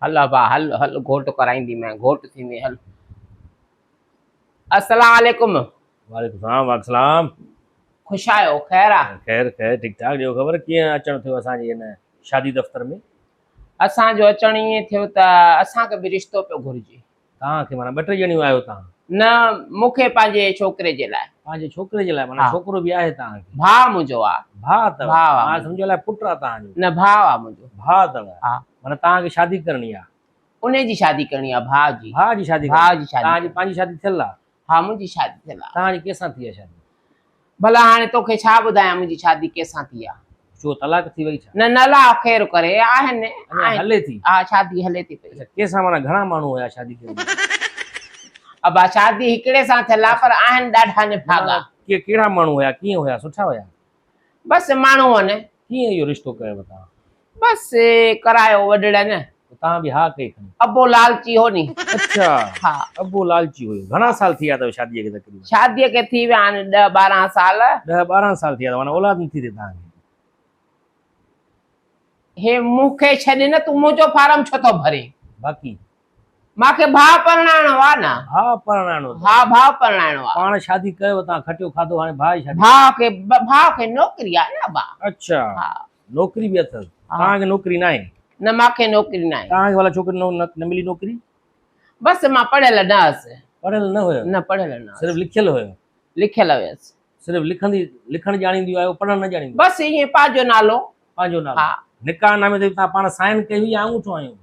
هل ابا هل هل گهوٽ ڪرائيندي مين گهوٽ ٿيندي هل. السلام عليڪم. وعليڪم السلام وعليڪم السلام. خوش آهيو خير آ. خير خير ٺيڪ ٺاڪ ڏيو خبر ڪيئن اچڻ ٿيو اسان جي هن شادي دفتر ۾. اسان جو اچڻ ائين ٿيو ته اسان کي به رشتو پيو گهرجي. توهان کي معنيٰ ٻه ٽي ڄڻيون آهيو توهان. نه مون کي پنهنجي ڇوڪري جي لاء. پنهنجي ڇوڪري جي لاء معنيٰ ڇوڪرو به آهي توهان کي. ڀاء منهنجو آ. ڀاء اٿو. ڀاء آ. مان سمجهيو الائي پٽ آ توهان جو. نه ڀاء آ منهنجو. ڀاء اٿو. ها. معنيٰ توهان کي شادي ڪرڻي آ. انهي جي شادي ڪرڻي آ ڀاء جي. ڀاء جي شادي ڪرڻي. ڀاء جي شادي. توهان جي پنهنجي شادي ٿيل آ. ها منهنجي شادي ٿيل آ. توهان جي ڪنهن سان ٿي آ شادي؟ ڀلا هاڻي توکي ڇا ٻڌايان منهنجي شادي ڪنهن سان ٿي آ. ڇو طلاق ٿي وئي ڇا؟ نه نه الله خير ڪري آهن. اڃا هلي ٿي؟ ها شادي هلي ٿي پئي. اچا ڪنهن سان معنيٰ گهڻا ماڻهو هيا شادي ڪئي هئي؟ ابا شادي هڪڙي سان ٿيل آ پر آهن ڏاڍا نڀاڳا. ڪهڙا ماڻهو هيا ڪيئن هيا سٺا هيا؟ بس ماڻهو هن ڪيئن اهو رشتو ڪيو تان؟ بس ڪرايو وڏڙن نه. پوء تان به ها ڪئي کڻي. ابو لالچي هو ني. اڇا ها. ابو لالچي هيو. گهڻا سال ٿي ويا اٿيو شاديء کي تقريبن؟ شاديء کي ٿي ويا آهن ڏهه ٻارهن سال. ڏهه ٻارهن سال ٿي ويا اٿو معنيٰ اولاد نه ٿي اٿئي تان کي. هي مون کي ڇڏ نه تون منهنجو فارم ڇو ٿو ڀرين؟ باقي. مان کي ڀاء پرڻائڻو آ نه. ڀاء پرڻائڻو اٿس. ها ڀاء پرڻائڻو آ. پاڻ شادي ڪيو اتان کٽيو کاڌو هاڻي ڀاء جي شادي. ڀاء کي ڀاء کي نوڪري آ نه ابا. اڇا ها نوڪري به اٿس. توهان کي نوڪري ناهي. نه مان کي نوڪري ناهي. توهان کي ڀلا ڇوڪري نه ملي نوڪري. بس مان پڙهيل نه هئس. پڙهيل نه هيو. نه پڙهيل نه هئس. صرف لکيل هيو. لکيل هيس. صرف لکندي لکڻ ڄاڻينديون آهيو پڙهڻ نه ڄاڻينديون بس ائين پنهنجو نالو پنهنجو نالو ها نڪاح نامي تي تها پاڻ سائن ڪئي هئي يا انگوٺو هنيو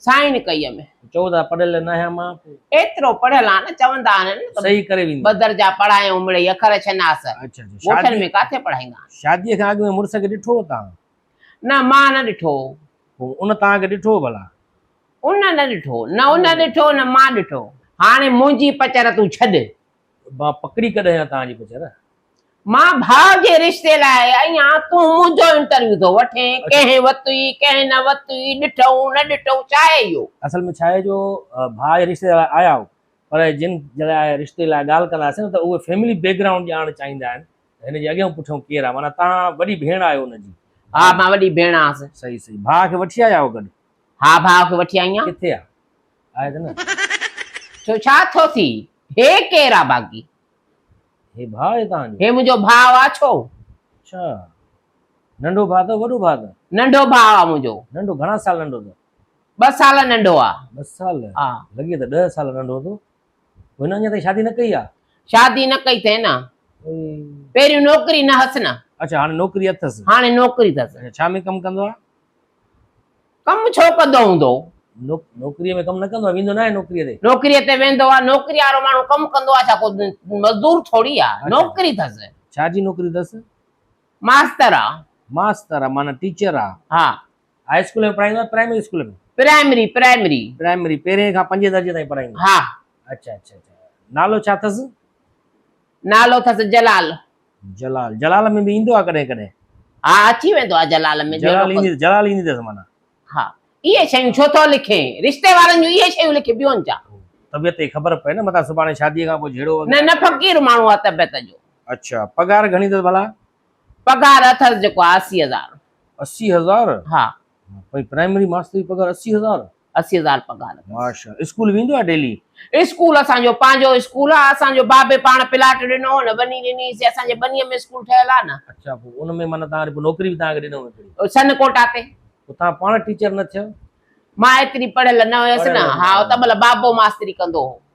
سائن ڪئي همي چئو ٿا پڙهيل نه هيا مان ايترو پڙهيل آهيان نه چوندا آهن نه ته صحيح ڪري ويندو ٻه درجا پڙهايائون مڙئي اکر شناس اچھا اچھا ڳوٺن شادي ۾ ڪاٿي پڙهائيندا آهن شادي کان اڳ ۾ مڙس کي ڏٺو هو تها نه مان نه ڏٺو هو پوء ان تها کي ڏٺو هو ڀلا ان نه ڏٺو نه ان ڏٺو نه مان ڏٺو هاڻي منهنجي پچر تون ڇڏ مان پڪڙي ڪڏهن ها توهان جي پچر. مان ڀاء جي رشتي لاء ايان تون منهنجو انٽرويو ٿو وٺين ڪنهن وتوئي ڪنهن نه وتوئي ڏٺئون نه ڏٺئون ڇا هي اهو. اصل ۾ ڇا هي جو ڀاء جي رشتي لاء آيا آهو پر جن لاء رشتي لاء ڳالهه ڪنداسين نه ته اهي فيملي بيڪ گرائونڊ ڄاڻڻ چاهيندا آهن ته هن جي اڳيان پٺيان ڪير آهي معنيٰ توهان وڏي ڀيڻ آهيو ان جي. ها مان وڏي ڀيڻ آهيان. صحيح صحيح ڀاء کي وٺي آيا آهو گڏ. ها ڀاء کي وٺي آئي آهيان. ڪٿي آهي ڇو ڇا ٿو ٿي؟ هي ڪير آ باقي؟ هي ڀاء آهي توهان جو؟ هي منهنجو ڀاء آ ڇو؟ اڇا ننڍو ڀاء اٿو وڏو ڀاء اٿو؟ ننڍو ڀاء آ منهنجو. ننڍو گهڻا سال ننڍو اٿو؟ ٻه سال ننڍو آ. ٻه سال؟ ها. لڳي ته ڏهه سال ننڍو اٿو. هن اڃا تائين شادي نه ڪئي آ؟ شادي نه ڪئي اٿئي نه. پهريون نوڪري نه هس نه. اڇا هاڻي نوڪري اٿس. هاڻي نوڪري اٿس. اڇا ڇا ۾ ڪم ڪندو آ؟ ڪم ڇو ڪندو هوندو؟ نوڪريء ۾ ڪم نه ڪندو آهي، ويندو ناهي نوڪريء تي. نوڪريء تي ويندو آهي، نوڪريء وارو ماڻهو ڪم ڪندو آهي ڇا ڪو مزدور ٿوري آهي، نوڪري ٿس. ڇا جي نوڪري ٿس؟ ماستر آ. ماستر آ معنيٰ ٽيچر آ. ها. هاء اسڪول ۾ پڙهائيندو آهي primary school ۾؟ Primary, primary. Primary, پهرين کان پنجين درجي تائين پڙهائيندو آهي. ها. اڇا اڇا اڇا نالو ڇا ٿس؟ نالو اٿس جلال. جلال جلال ۾ به ايندو آ ڪڏهن ڪڏهن. ها اچي ويندو آ جلال ۾. جلال ايندي جلال ايندي اٿس معنيٰ. ها اهي شيون ڇو ٿو لکين. رشتي وارن جون اهي شيون لکي ٻيون ڇا. طبيعت جي خبر پئي نه متان سڀاڻي شادي کان پوء جهيڙو وغيره. نه نه فقير ماڻهو آ طبيعت جو. اڇا پگهار گهڻي اٿس ڀلا. پگهار اٿس جيڪو آ اسي هزار. اسي هزار؟ ها. پرائمري ماستر جي پگهار اسي هزار؟ اسي هزار پگهار اٿس. ماشاءالله اسڪول ويندو آهي ڊيلي. اسڪول اسان جو پنهنجو اسڪول آ اسان جو بابي پاڻ پلاٽ ڏنو هو نه ٻني ڏني سي اسان جي ٻني ۾ اسڪول ٺهيل آ نه. اڇا پو ان ۾ معنيٰ تهان ري نوڪري به تهان کي ڏنو ويندي. سن ڪوٽا تي. پو تهان پاڻ ٽيچر نه ٿيو. مان ايتري پڙهيل نه هيس نه ها ته مطلب بابو ماستري ڪندو هو.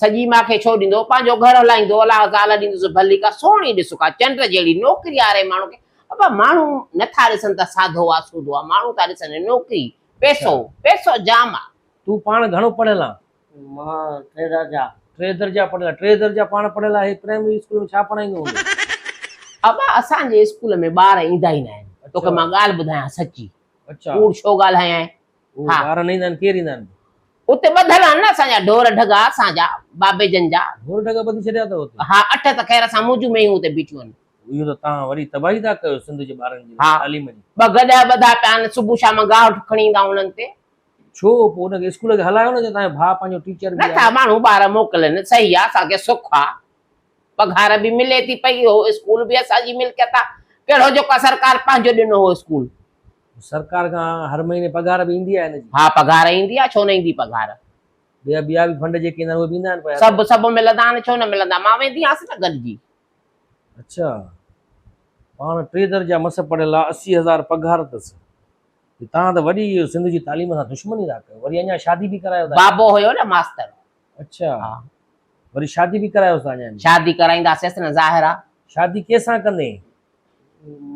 سڄي مان کي ڇو ڏيندو، پنهنجو گهر هلائيندو الاهه زال ڏيندس ڀلي ڪا سهڻي ڏس ڪا چنڊ جهڙي نوڪري آري ماڻهو کي ابا ماڻهو نه ٿا ڏسن ته ساڌو آ سودو آ ماڻهو ٿا ڏسن نوڪري پيسو پيسو جام آ. تون پاڻ گهڻو پڙهيل آن؟ مان ٽي درجا. ٽي درجا پڙهيل آهي. ٽي درجا پاڻ پڙهيل آهي پرائمري اسڪول ۾ ڇا پڙهائيندو هوندو؟ ابا اسان جي اسڪول ۾ ٻار ايندا ئي ناهن. توکي مان ڳالهه ٻڌايان سچي. ڪوڙ ڇو ڳالهايانء. اهي ٻار نه ايندا آهن ڪير ايندا آهن. اتي ٻڌل آهن نه اسان جا ڍور ڍڳا اسان جا بابي جن جا. ڍور ڍڳا ٻڌي ڇڏيا اٿو اتي. ها اٺ ته خير اسان موجون مينهون اتي بيٺيون آهن. اهو ته توهان وڏي تباهي ٿا ڪيو سنڌ جي ٻارن جي تعليم جي. ها ٻه گڏهه ٻڌا پيا آهن صبح شام گاهه کڻي ايندا آهن انهن تي. ڇو پوء ان کي اسڪول کي هلايو نه جي توهان جو ڀاء پنهنجو ٽيچر به آهي. نٿا ماڻهو ٻار موڪلين صحيح آهي اسان کي سک آهي پگهار به ملي ٿي پئي اهو اسڪول به اسان جي ملڪيت آهي ڪهڙو جيڪو سرڪار پنهنجو ڏنو هو اسڪول سرڪار کان هر مهيني پگهار به ايندي آهي هن جي. ها پگهار ايندي آهي ڇو نه ايندي پگهار. ٻيا ٻيا به فنڊ جيڪي ايندا آهن اهي به ايندا آهن. سڀ سڀ ملندا آهن ڇو نه ملندا مان ويندي هئس نه گڏجي. اڇا پاڻ ٽي درجا مس پڙهيل آ اسي هزار پگهار تس جي تان ته وڏي سنڌ جي تعليم سان دشمني ٿا ڪيو وري اڃا شادي به ڪرايو ٿا. بابو هيو نه ماستر. اڇا ها وري شادي به ڪرايوس ٿا اڃا. شادي ڪرائيندا سيس نه ظاهر آ. شادي ڪيسان ڪندين.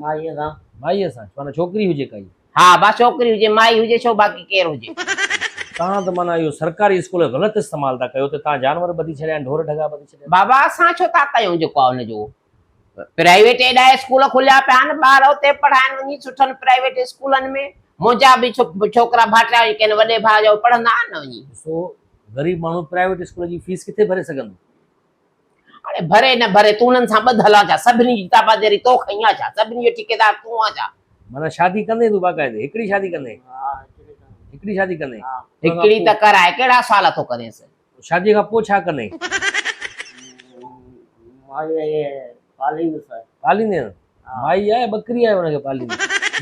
مائيء سان. مائيء سان معنيٰ ڇوڪري هجي ڪائي. ها با ڇوڪري هجي مائي هجي ڇو باقي ڪير هجي. توهان ته معنيٰ اهو سرڪاري اسڪول جو غلط استعمال ٿا ڪيو ته توهان جانور ٻڌي ڇڏيا آهن ڍور ڍڳا ٻڌي ڇڏيا آهن. بابا اسان ڇو ٿا ڪيون جيڪو آهي ان جو پرائيويٽ ايڏا اسڪول کليا پيا آهن ٻار اتي پڙهائن وڃي سٺن پرائيويٽ اسڪولن ۾ منهنجا به ڇوڪرا ڀائٽيا جيڪي آهن وڏي ڀاء جا اهي پڙهندا آهن نه وڃي. ڏسو غريب ماڻهو پرائيويٽ اسڪول جي فيس ڪٿي ڀري سگهندو. هاڻي ڀري نه ڀري تون انهن سان ٻڌل آن ڇا؟ سڀني جي تابعداري تو کنئي آ ڇا؟ سڀني جو ٺيڪيدار تون آن ڇا؟ معنيٰ شادي ڪندين تون باقاعدي؟ هڪڙي شادي ڪندين؟ هڪڙي شادي ڪندين؟ هڪڙي ته ڪرائي ڪهڙا سال ٿو ڪرينس؟ شاديء کان پوء ڇا ڪندين؟ مائي آهي پاليندس. پاليندين؟ مائي آهي ٻڪري آهي ان کي پاليندين؟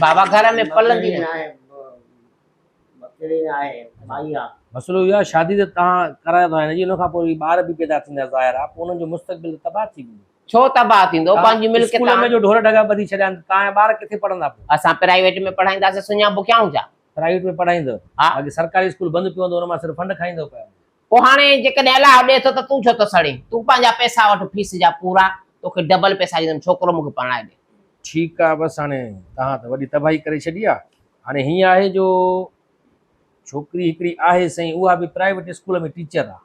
بابا گهر ۾ پلندي نه. مسئلو اهو آهي شادي ته توهان ڪرايو ٿا هن جي ان کان پوء وري ٻار به پيدا ٿيندا ظاهر آهي پوء انهن جو مستقبل ته تباهه ٿي ويندو. ڇو تباهه ٿيندو پنهنجي ملڪيت اسڪول ۾ جو ڍور ڍڳا ٻڌي ڇڏيا آهن ته توهان جا ٻار ڪٿي پڙهندا پوء. اسان پرائيويٽ ۾ پڙهائينداسين سڃا بکيائون ڇا. پرائيويٽ ۾ پڙهائيندو باقي سرڪاري اسڪول بند پيو هوندو ان مان صرف فنڊ کائيندو پيو هوندو. پوء هاڻي جيڪڏهن الله اڏي ٿو ته تون ڇو ٿو سڙين؟ تون پنهنجا پئسا وٺ فيس جا پورا، توکي ڊبل پئسا ڏيندم، ڇوڪرو مون کي پرڻائي ڏي. ٺيڪ آ، بس هاڻي توهان ته وڏي تباهي ڪري ڇڏي آ، هاڻي هيئن آهي جو ڇوڪري هڪڙي آهي سائين، اها به پرائيويٽ اسڪول ۾ ٽيچر آ.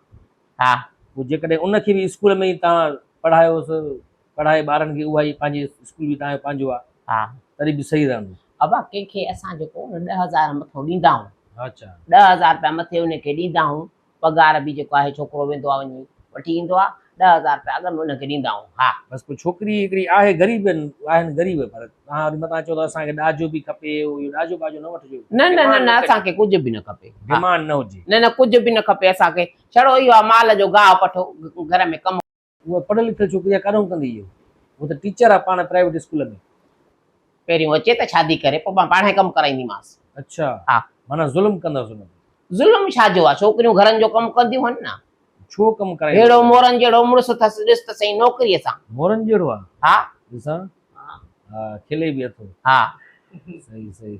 ها. پوء جيڪڏهن ان کي به اسڪول ۾ ئي توهان پڙهايوس. پڙهائي ٻارن کي اها ئي پنهنجي اسڪول به تنهنجو پنهنجو آ ها تڏهن به صحيح رهندو. ابا ڪنهن کي اسان جيڪو ان ڏهه هزار مٿو ڏيندا هون اچا. ڏهه هزار رپيا مٿي ان کي ڏيندا هون پگهار به جيڪو آهي ڇوڪرو ويندو آ وڃي وٺي ايندو آ ڏهه هزار رپيا اڳ ۾ ان کي ڏيندا هون ها. بس پوء ڇوڪري هڪڙي آهي غريب ان آهن غريب پر توهان وري متان چئو ٿا اسان کي ڏاجو به کپي اهو اهو ڏاجو ٻاجو نه وٺجو نه نه نه نه اسان کي ڪجهه به نه کپي ها ڊيمانڊ نه هجي. نه نه ڪجهه به نه کپي اسان کي ڇڙو اهو آ مال جو گاهه پٺو گهر ۾ ڪم. اها پڙهيل لکيل ڇوڪري آ ڪاڏانهون ڪندي اهو هو ته ٽيچر آ پاڻ پرائيويٽ اسڪول ۾. پهريون اچي ته شادي ڪري پوء مان پاڻهي ڪم ڪرائينديمانس. اڇا ها. معنيٰ ظلم ڪندس ان تي. ظلم ڇا جو آ ڇوڪريون گهرن جو ڪم ڪنديون هن نه. ڇو ڪم ڪرائينديون. ههڙو مورن جهڙو مڙس اٿس ڏس ته سهي نوڪري سان. مورن جهڙو آ. ها. ڏسان ها کلي به اٿو. ها. صحيح صحيح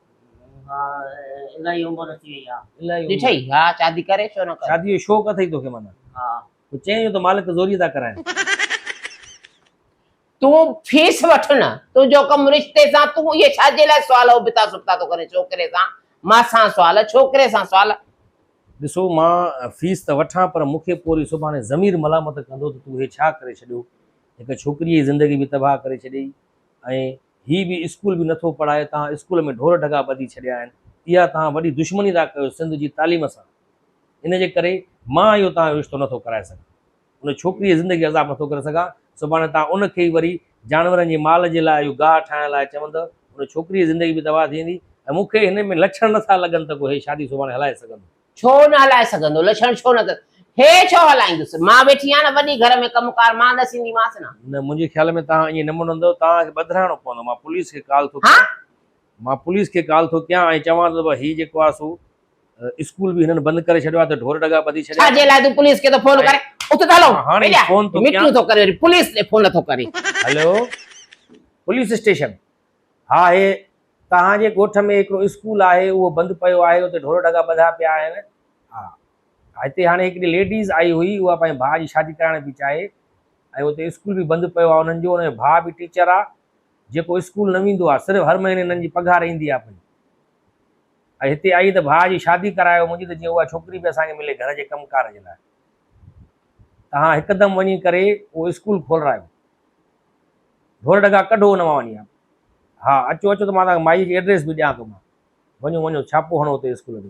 الائي عمر ٿي وئي آ الائي عمر ڏٺئي ها شادي ڪري ڇو نه ڪري شادي جو شوق اٿئي توکي معنيٰ ها پوء چئين جو ته مالڪ زوريء ٿا ڪرائين. تون فيس وٺ نه تنهنجو ڪم رشتي سان تون اهي ڇاجي لاء سوال ابتا سبتا ٿو ڪرين ڇوڪري سان مان سان سوال ڇوڪري سان سوال. ڏسو مان فيس ته وٺان پر مون کي پوء وري سڀاڻي ضمير ملامت ڪندو ته تون هي ڇا ڪري ڇڏيو هڪ ڇوڪريء جي زندگي به تباهه ڪري ڇڏيئي ۽ هي به اسڪول به نٿو پڙهائي توهان اسڪول ۾ ڍور ڍڳا ٻڌي ڇڏيا آهن اها توهان وڏي دشمني ٿا ڪيو سنڌ جي تعليم سان ان جي ڪري مان اهو توهان جو رشتو نٿو ڪرائي سگهان ان ڇوڪري جي زندگي عذاب نٿو ڪري سگهان سڀاڻي توهان ان کي ئي وري جانورن جي مال جي لاء اهو گاهه ٺاهڻ لاء چوندؤ ان ڇوڪري جي زندگي به تباهه ٿي ويندي ۽ مون کي هن ۾ لڇڻ نٿا لڳن ته ڪو هي شادي سڀاڻي هلائي سگهندو. ڇو نه هلائي سگهندو؟ لڇڻ ڇو نه اٿس؟ هي ڇو هلائيندس؟ مان ويٺي آهيان نه وڏي گهر ۾ ڪم ڪار مان ڏسينديمانس نه. نه منهنجي خيال ۾ توهان ائين نه مڃندؤ، توهان کي ٻڌرائڻو پوندو، مان پوليس کي ڪال ٿو ڪيان، مان پوليس کي ڪال ٿو ڪيان ۽ چوان ٿو ته هي جيڪو آهي سو اسڪول به هنن بند ڪري ڇڏيو آهي ته ڍور ڍڳا ٻڌي ڇڏيا ڇاجي لاء تون پوليس کي ٿو فون ڪرين؟ اٿ ته هلون، هاڻي فون ٿو ڪيان، ميٽنگ ٿو ڪري وري پوليس ڏي فون ٿو ڪرين. Hello police station. ها هي، توهان جي ڳوٺ ۾ هڪڙو اسڪول آهي، اهو بند پيو آهي، اتي ڍور ڍڳا ٻڌا پيا آهن. ها هتي هاڻي هڪڙي ليڊيز آئي هئي، اها پنهنجي ڀاء جي شادي ڪرائڻ پئي چاهي ۽ اتي اسڪول به بند پيو آهي انهن جو، انهن جو ڀاء به ٽيچر آهي، جيڪو اسڪول نه ويندو آهي، صرف هر مهيني انهن جي پگهار ايندي آهي پئي ۽ هتي آئي ته ڀاء جي شادي ڪرايو منهنجي ته جيئن اها ڇوڪري به اسان کي ملي گهر جي ڪم ڪار جي لاء. توهان هڪدم وڃي ڪري اهو اسڪول کولرايو. ڍور ڍڳا ڪڍو ان مان وڃي. ها اچو اچو ته مان توهان کي مائيء جي ايڊريس به ڏيان ٿو مان. وڃو وڃو ڇاپو هڻو اتي اسڪول ۾.